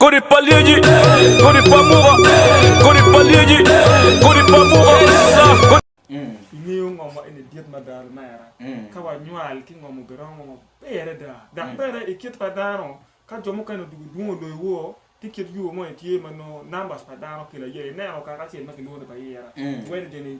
Kodi pa lyeci, kodi pa muka, kodi pa lyeci, kodi pa muka, sa. Ingeyo ngo ma eni dit mada lumera? Ka wanywal ki ngo mubiromo maber adada, dok bene i kit pa dano, ka jo mukene odwogo dwongo loyo woko ki kit yubo moni tye ma nongo numbers pa dano kelo aye ineno kaka acel ma kilwongo ni pa ira, Wendgen,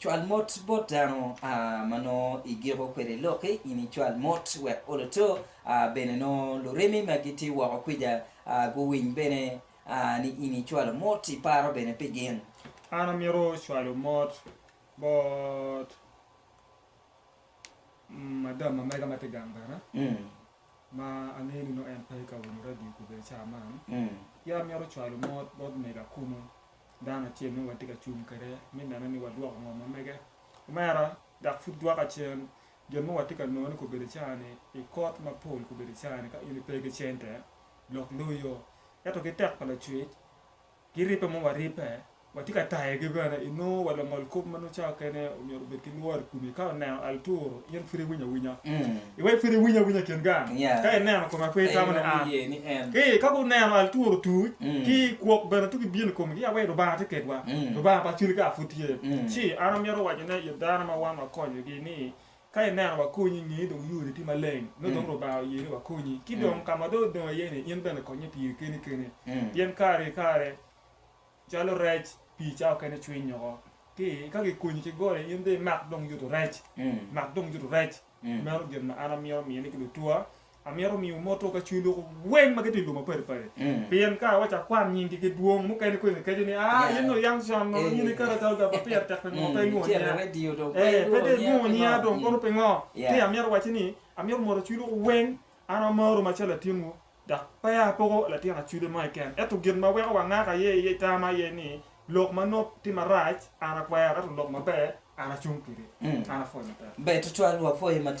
Cwal mot bot dano ma nongo igiko kwede lokki, in icwal mot wek oloto bene nongo lurimi ma gitye woko kwica guwiny bene ni in icwalo mot, iparo bene pi gin. An amito cwalo mot bot madam ma mega ma tye gang bene ma angeyo ni nongo en pe ka winyo radio kobedi cawa man, ki amito cwalo mot bot mego Akumu dano acel ma watye ka cung kwede me neno ni wadwoko ngo ma mege. Omera dok pud dwoka cen gin ma watye ka nongo ni gubedo i cawa ni i kot mapol gubedo i cawa ni ka in pe ki cente lok loyo ento ki tek pa lacwec ki ribbe ma waribbe watye ka tayogi bene inongo wa lungol kop ma nongo cawa mukene omyero obed ki lworo i komi ka oneno al turu in pud iwinyo awinya. Iwek pud iwiny awinya kin gang, ka ineno koma pe itamo ni an. Ki ka guneno al tur otuc, ki kwok bene tugi bino i komgi, awe Lubanga tye kedwa, Lubanga pa Cilika pud tye. Ci an amito waco ne i dano ma wan wakonyogi ni, Ka ineno wakonyi i nge dong yoni tye maleng, nongo dong Lubanga oye ni wakonyi. Ki dong ka ma dong odong iye ni, in bene konye piri keni keni, pien kare ki kare calo rec pii cawa okene cwiny oko. Ki ka gikonyi ki goli, in dong imak dong yuto rec, mak dong yuto rec. Meno gin ma an amito miyo ni ki lutuwa. Amito miwu moto ka cwinywu loko weng ma gitye i lum mapadi padi. Pien ka wacako kwan nyingi ki dwong, mukene kong ikeco ni, Ah, in nongo yam con ma in ikato ikato ga ma pire tek pi ngo pe ilwongo nyinga? Ee, pe dong ilwongo nyinga dong kono pingo? Ci amito wacci ni, amito moto cwinywu loko weng. An amaro macalo latinwu. Dok peya apoko latin acude mo keken, ento gin ma weko wangak aye iye itama aye ni, lok ma nop ki marac an akwero, ento lok maber an acung kwede. An apwoyi matek. Ber tutwal, wapwoyi matek.